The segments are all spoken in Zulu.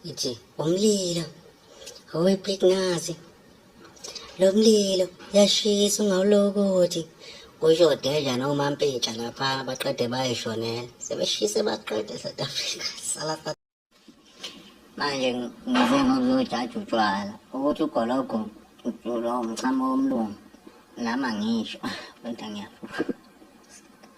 nje umlilo owepliknazi lo mlilo yashisa ungawulokothi kusho deja nomampitsha lapha baqede bayishonela sebeshise baqede south africa salafa manje ngize ngokuzojaja utshwala ukuthi ugologo ulo mchamo womlungu nami angisho kodwa ngiyafuka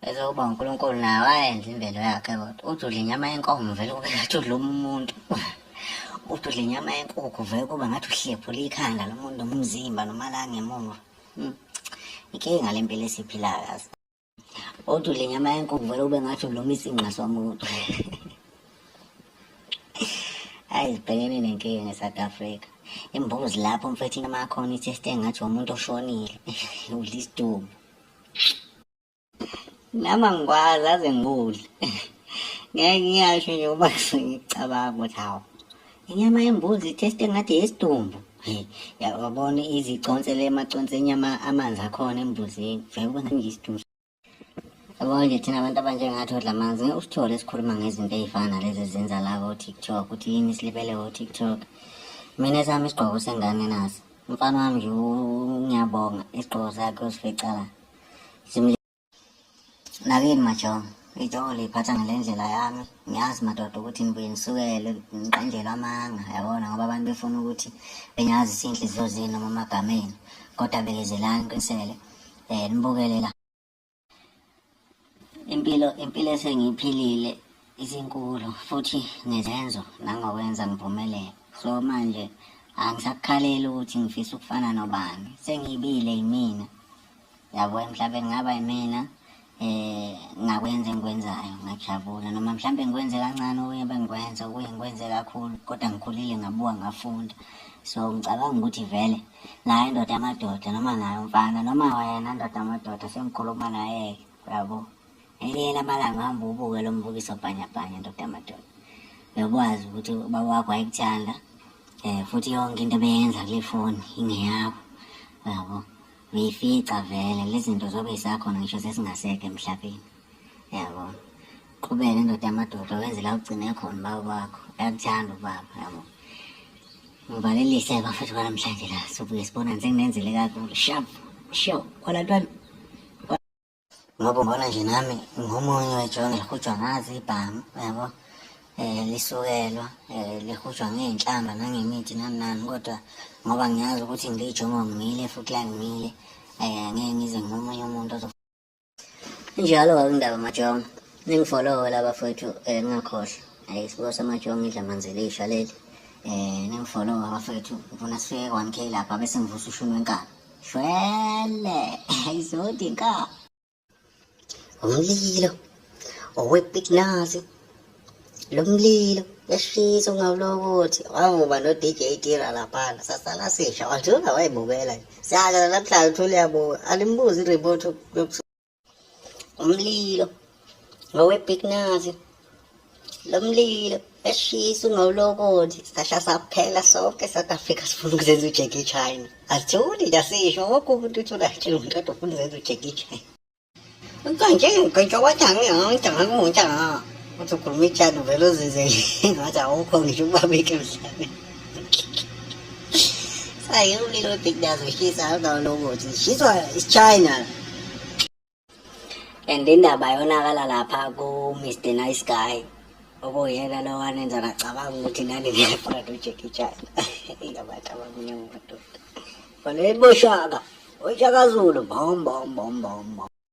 bese uba unkulunkulu naye wayenza imvelo yakhe kodwa uthi udla inyama yenkomo vele kube ngathi udla umuntu uthi udla inyama yenkukhu vele kuba ngathi uhlephula ikhanda lomuntu nomzimba noma la ngemuva hmm. inkinga le mpilo esiphilayo yazi uthi udla inyama yenkukhu vele kube ngathi ulomisa ingqa somuntu Hayi sibhekene nenkinga nge-South Africa. Imbuzi lapho mfethu inamakhona ithi estengathi umuntu oshonile. Udla isidumbu. Nama ngikwazi aze ngikudle. Ngeke ngiyasho nje uma ngicabanga ukuthi hawu. Inyama yembuzi iteste ngathi yesidumbu. Yabona iziconse le maconse enyama amanzi akhona embuzini. Vele ubona ngiyisidumbu. Yabo nje thina abantu abanjengathi odla amanzi ngeke usithole esikhuluma ngezinto ey'fana nalezi ezenza la ko-tiktok ukuthi yini silibele ko-tiktok mina esami isigqoko sengane naso umfana wami nje ngiyabonga isigqoko sakhe usifica la nakini majongo ijongo liyiphatha ngale ndlela yami ngiyazi madoda ukuthi ngibuye ngisukele ngiqanjelwe amanga yabona ngoba abantu befuna ukuthi benyazi sinhliziyo zenu noma amagameni kodwa bekezelani qinisele eh nibukelela impilo impilo esengiphilile izinkulu futhi ngezenzo nangokwenza ngiphumelele so manje angisakukhaleli ukuthi ngifisa ukufana nobani sengiyibile yimina yabo emhlabeni ngaba yimina eh ngakwenza engikwenzayo ngajabula noma mhlambe ngikwenze kancane okunye bengikwenza okunye ngikwenze kakhulu kodwa ngikhulile ngabuka ngafunda so ngicabanga ukuthi vele naye ndoda amadoda noma naye umfana noma wena ndoda amadoda sengikhuluma naye-ke uyabo elinye lamalanga hamba ubuke lo mbukiso bhanyabhanya ndoda amadoda uyokwazi ukuthi ubaba wakho wayekuthanda um futhi yonke into ebeyenza kule foni ingeyakho uyabo uyifica vele lezinto zobe isakhona ngisho sesingaseke emhlabeni yabo qhubeke ndoda yamadoda wenze la ugcine khona ubaba wakho uyakuthanda ubaba yabo ngivalelise bafethu kwanamhlanje la sobuke sibonane senginenzele kakhulu shap sho kwalatwana ngoba ngibona nje nami ngomunye wejona lihutshwa ngazi ibhamu yabo um eh, lisukelwa um eh, lihutshwa ngey'nhlamba nangemithi nani nani kodwa ngoba ngiyazi ukuthi ngiyijongo ngimile futhi la ngimile um eh, ngeke ngize ngomunye umuntu ozo injalo kakundaba majongo ningifolowe laba fethu um ngingakhohlwa um isibuko samajongo idla manzi elisha leli um ningifolowe abafethu ngifuna sifike one k lapha bese ngivusa ushuni wenkani shwele izodi nka umlilo owepiknazi lo mlilo yashisa ungawulokothi wavuba no-dj tira laphana sasala sisha wajula wayibukela siyakela namhlanje uthole yabuka alimbuzi i-remote umlilo ngowebig nazi lo mlilo eshisa ungawulokothi sasha saphela sonke south africa sifuna ukuzenza ujeki china asithuli ndasisho woke umuntu uthi unatshile umuntu kodwa ufuna uzenza ujeki china Manje ngisho wathi angiyonke ngakuntsha uthi ukhuluma ijadu vele uzizele ngathi awukho ngisho ubabeke mhlabeni I only don't think that's what she said. I don't know what she said. It's China. And indaba yonakala lapha ku Mr Nice Guy okuyena lo wanenza ngacabanga ukuthi nani ngiyafuna noJackie Chan ingabantu abamnyama amadoda bona eboshaka oshaka Zulu bom bom bom bom bom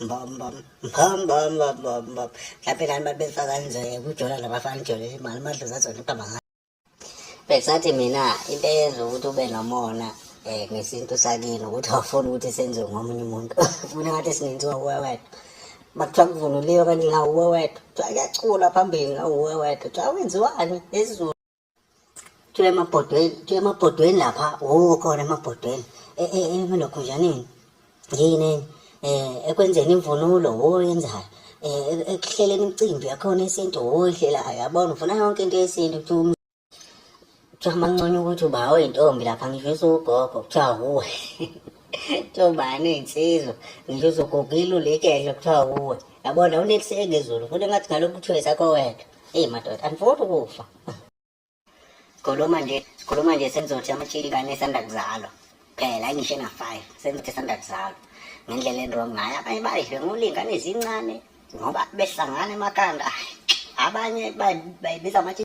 mhlawumbe nani babefa kanje kujola labafana ijolele imali amadlozi azona ukuhamba ngayo besathi mina into eyenza ukuthi ube nomona um ngesintu sakini ukuthi awufuni ukuthi senziwe ngomunye umuntu funa ngathi sinenziwa uwe wena bakuthiwa kuvunuliwe kanti ngawuwe wedwa kuthiwa kuyacula phambili ngawuwe wedwa kuthiwa wenziwani ezulu Kuthiwa emabhodweni, kuthiwa emabhodweni lapha, oh khona emabhodweni. E, e, e, emelokhunjaneni. Yini eh ekwenzeni imvunulo oyenzayo. Oh, eh, e, ekuhleleni imicimbi yakhona yesintu oyihlelayo. Oh, Yabona ufuna yonke into yesintu kuthiwa um, kuthiwa amanconya ukuthi uba oyintombi lapha ngisho usugogo kuthiwa wuwe. Ntombani iy'nsizwa ngisho uzogugile ulikedla kuthiwa wuwe. Yabona uneliseke izulu futhi engathi ngalokhu kuthiwa esakho wedwa. Hey madoda, andifuni ukufa. Sikhuluma nje, sikhuluma nje senizothi amatshili kanye esanda kuzalwa. Phela ngisho ena 5, senizothi esanda kuzalwa. Ngendlela endrong ngayo abanye bayidle ngolingane ezincane ngoba behlangana emakhanda. Abanye bayibiza amatshili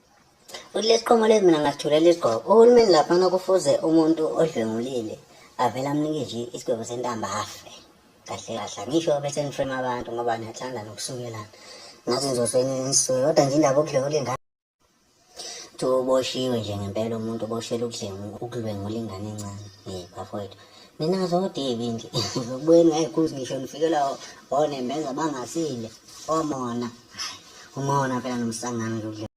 Uthi lesiqomo lezi mina ngasithulela isigqoko. Uhulumeni laphana kufuze umuntu odlwengulile avele amnike nje isigwebo sentamba afe. Kahle kahle angisho bese niframe abantu ngoba niyathanda nokusukelana. Ngathi ngizosweni nisuke kodwa nje indaba okudlwengula ingane uboshiwe nje ngempela umuntu uboshelwe ukudlwengula ingane encane. Hey bafowethu. mina zodebe nje zokubuyeni hayi cause ngisho nifikela onembeza bangasile omona umona phela nomsangano nje ukudla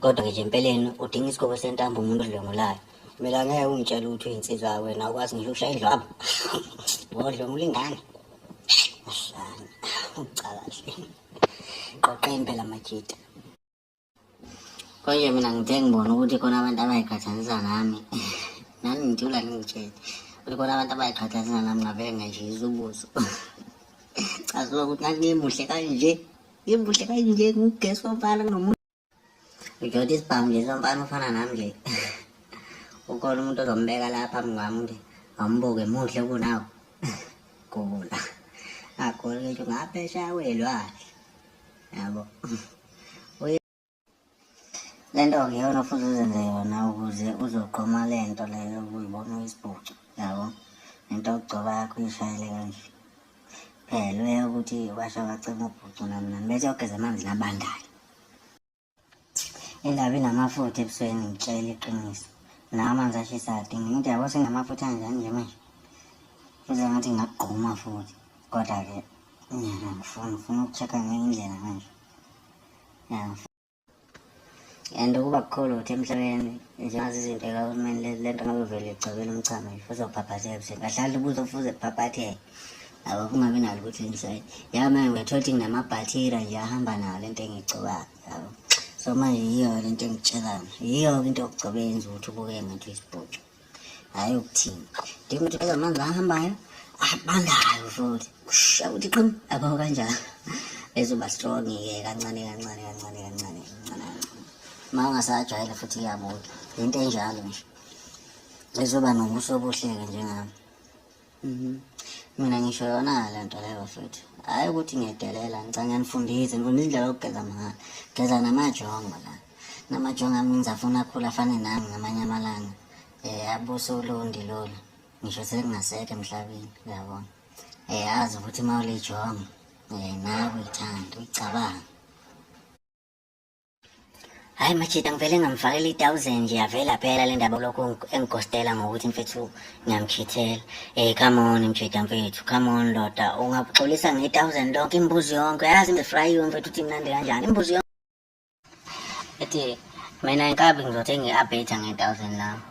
kodwa-ke nje empeleni udinga isikhobo sentambo umuntu odlwengulayo mina ngeke ungitshele ukuthi uyinsizwa wena ukwazi ngisho ukushaya indlwabo wodlwengula ingane ucakahle qoqeni phela majita konje mina ngithe ngibona ukuthi khona abantu abayiqhathanisa nami nami ngithula ngingitshele ukuthi khona abantu abayiqhathanisa nami ngavele ngayishisa ubuso caziwa ukuthi ngangimuhle kanje ngimuhle kanje ngugesi womfana kunomuntu ngijota isibhamu nje somfana ufana nami nje ukhona umuntu ozombeka la phambi kwami ukuthi awumbuke muhle kunawo gula agole ngisho ngaphesha welwandle yabo le nto kuyona futhi uzenze yona ukuze uzogqoma le nto leyo uyibona uyisibhucu yabo nento yokugcoba yakho uyishayele kanje phela uye ukuthi washa wacima ubhucu nami nami bese yogeza amanzi nabandayo indaba inamafutha ebusweni ngitshela iqiniso nawo amanzi ashisa adinga into yabo senamafutha anjani nje manje futhi ngathi ngakugquma futhi kodwa-ke nyana ngifuna ngifuna uku-check-a ngenye indlela manje and ukuba kukhulu ukuthi emhlabeni njengazi izinto ekahulumeni le nto ngabe vele igcobela umchamo futhi uzobhabhatheka ebusweni kahlali ubuze ufuze bhabhatheke Yabo kungabi nalo ukuthi inside. Yabo manje uyathola ukuthi nginamabhathira nje ahamba nawo lento engigcobayo. Yabo. So manje yiyo lento engitshelana. Yiyo into yokugcoba yenza ukuthi ubuke ngathi uyisibhucu. Hayi ukuthini. Ndinga ukuthi phela manje ahambayo abandayo futhi. Kusha ukuthi qim abawo kanjalo. Ezoba strong ke kancane kancane kancane kancane kancane. Uma ungasajwayela futhi iyabuka. Into enjalo nje. Ezoba nobuso obuhle-ke njengami. Mhm. Mina ngisho yona le nto leyo futhi. Hayi ukuthi ngiyedelela ngicela ngiyanifundisa, ngifundisa indlela yokugeza mahhala. Geza namajongo la. Namajongo ami ngizafuna akhula afane nami ngamanye amalanga. Eh abuse ulundi lolu. Ngisho sekungasekho emhlabeni, uyabona. Eh azi ukuthi mawulijongo eh nawe uyithanda, uyicabanga. Hayi machita ngivele ngamfakela i-thousand nje yavela phela le ndaba kulokhu engigostela ngokuthi mfethu ngiyamkhithela ey eh, come on mchita mfethu come on ndoda ungabuxolisa nge-thousand lonke imbuzi yonke yazi ngifrayiwe mfethu uthi mnandi kanjani imbuzi yonke ethi mina inkabi ngizothenga i-abeta nge-thousand lami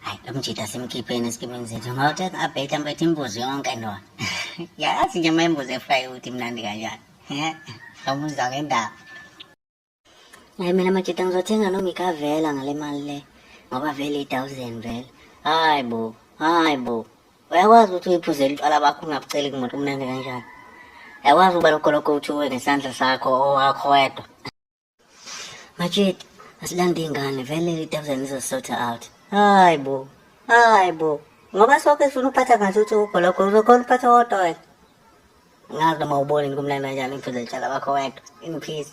hayi lo mjita simkhipheni esikimini zethu ngawuthenga i-abeta mfethu imbuzi yonke ndoda yazi nje uma imbuzi efrayiwe uthi mnandi kanjani Eh, ngamuzwa ngendaba. Hayi mina majita ngizothenga noma ikavela ngale mali le ngoba vele i-thousand vele hayi bo hayi bo uyakwazi ukuthi uyiphuzele utshwala bakho ungabuceli kumuntu umnandi kanjani uyakwazi ukuba lokho lokho uthiwe ngesandla sakho owakho wedwa Majid, asilande ingane vele idabuzane izosota out. Hayi bo. Hayi bo. Ngoba sonke sifuna ukuphatha ngathi uthi ukho lokho uzokhona ukuphatha wodwa wena. Ngazi noma ubone kumnandi kanjani imfundo yetshala bakho wedwa in peace.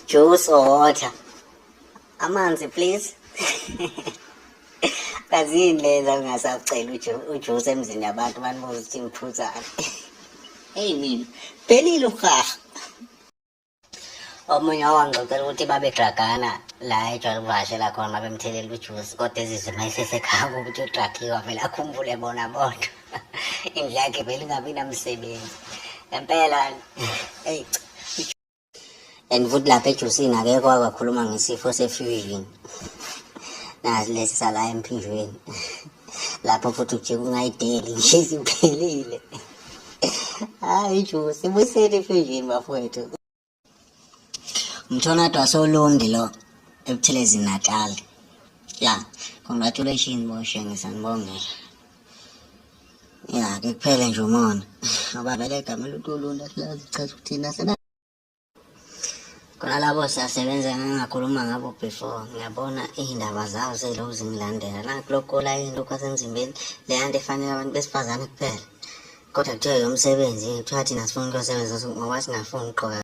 Juice or water. amanzi please kazini leza ungasacela ujuice emzini yabantu banibuza ukuthi ngiphuzane eyi mina phelile uhaha omunye owangixoxela ukuthi babedragana la ejwayele ukuvakashela khona babemthelela ujuice kodwa ezizwe uma esesekhanga ukuthi udragiwe avele akhumbule bona bodwa indlu yakhe vele ingabi namsebenzi ngempela eyi and futhi lapha ejusini akekho wakakhuluma ngesifo se-fusion nazi lesi sala emphinjweni lapho futhi ujike ungayideli nje isiphelile hayi ijusi ibusele i-fusion bafowethu umthonado wasolundi lo ebuthelezi natal ya congratulations boshe ngisanibongela ya ke kuphele nje umona ngoba vele igama elutulula silazi chaza ukuthina sena khona labo siyasebenza ngangakhuluma ngabo before ngiyabona iy'ndaba zabo seyilokhu zingilandela nakulokola yini lokhu asemzimbeni leya nto efanele abantu besifazane kuphela kodwa kuthiwa yomsebenzi kuthiwa thina sifuna ukuyosebenza ngoba singafuni ukuqoka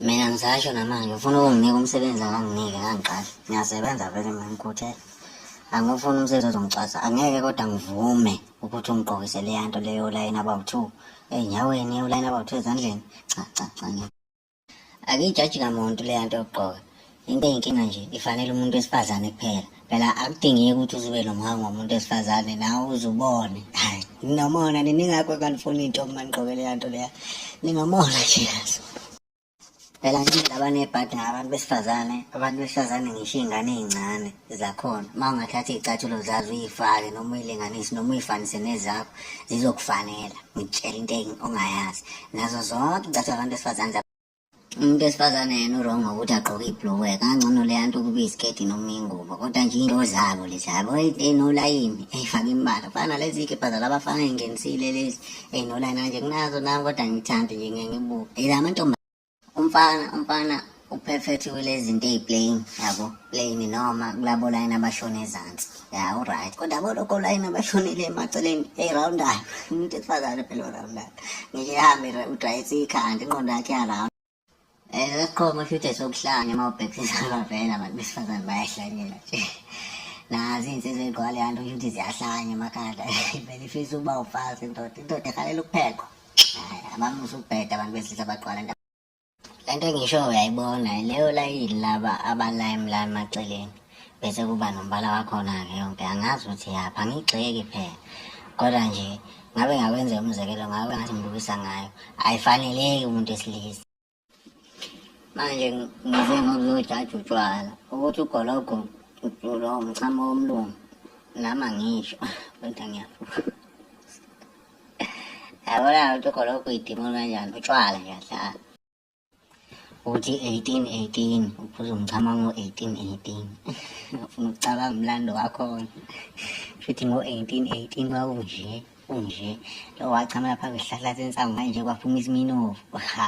Mina ngisasho namanje ufuna ukunginika umsebenzi akanginike kangiqasha. Ngiyasebenza vele mina ngikhuthele. Angifuni umsebenzi ozongicwasa. Angeke kodwa ngivume ukuthi ungigqokise leya nto leyo ulayini about two. Ey'nyaweni ulayini about two ezandleni. Cha cha cha ngeke. Akiyijaji kamuntu leya nto yokugqoka. Into eyinkinga nje ifanele umuntu wesifazane kuphela. Phela akudingeki ukuthi uzube nomhango womuntu wesifazane nawe uzubone. Hayi, nginomona nini ngakho kanifuni into uma nigqoke leya nto leya. Nginomona nje yazo. Phela nje laba nebhadi ngabantu besifazane, abantu besifazane ngisho iy'ngane ey'ncane zakhona. Uma ungathatha iy'cathulo zazo uyifake noma uyilinganise noma uyifanise nezakho zizokufanela. Ngitshela into engi- ongayazi. Nazo zonke iy'cathulo zabantu besifazane umuntu wesifazane yena urong ngokuthi agqoke ibhulukwe kangcono leya nto ukuba isiketi noma ingubo kodwa nje into zabo lezi yabo ey'nolayini ey'fake imbala kufana nalezi ikebha zalabafana ey'ngenisile lezi ey'nolayini kanje kunazo nami kodwa ngithande nje ngeke ngibuke ela amantomba umfana umfana uphethe kulezi zinto ey'playing yabo playini noma kulabolayini abashona ezansi ya uright kodwa boloko layini abashonile emaceleni eyirawundayo umuntu esifazane phela orawundayo ngisho ihambe udayisa ikhanda inqondo yakhe yarawunda um eh, lesiqhomo shuthi esokuhlanya uma ubhekisisa abavela abantu besifazane bayahlanyela nje nazi iy'nsizwa ey'gqwale yanto shuthi ziyahlanya emakhanda vele ifisa ukuba ufazi indoda indoda ehalela ukuphekwa hayi abamusa ukubheda abantu besilisa bagqwala le nto engisho uyayibona leyo layini laba abalayimi la emaceleni bese kuba nombala wakhona-ke yonke angazi ukuthi yapha ngigxeki phela kodwa nje ngabe ngakwenza umzekelo ngabe ngathi ngibukisa ngayo ayifaneleki umuntu esilisa manje ngize ngokuzojaja utshwala ukuthi ugologo lo mchamo womlungu nami angisho kodwa ngiyafuka yabona ukuthi khona okuyidimoni kanjani utshwala ngiyahlala uthi 1818 uphuza umchama ngo-1818 ufuna ukucabanga umlando wakhona futhi ngo-1818 kwakunje kunje lo wachamela phambi isihlahla sensangu manje kwaphuma isiminovu ha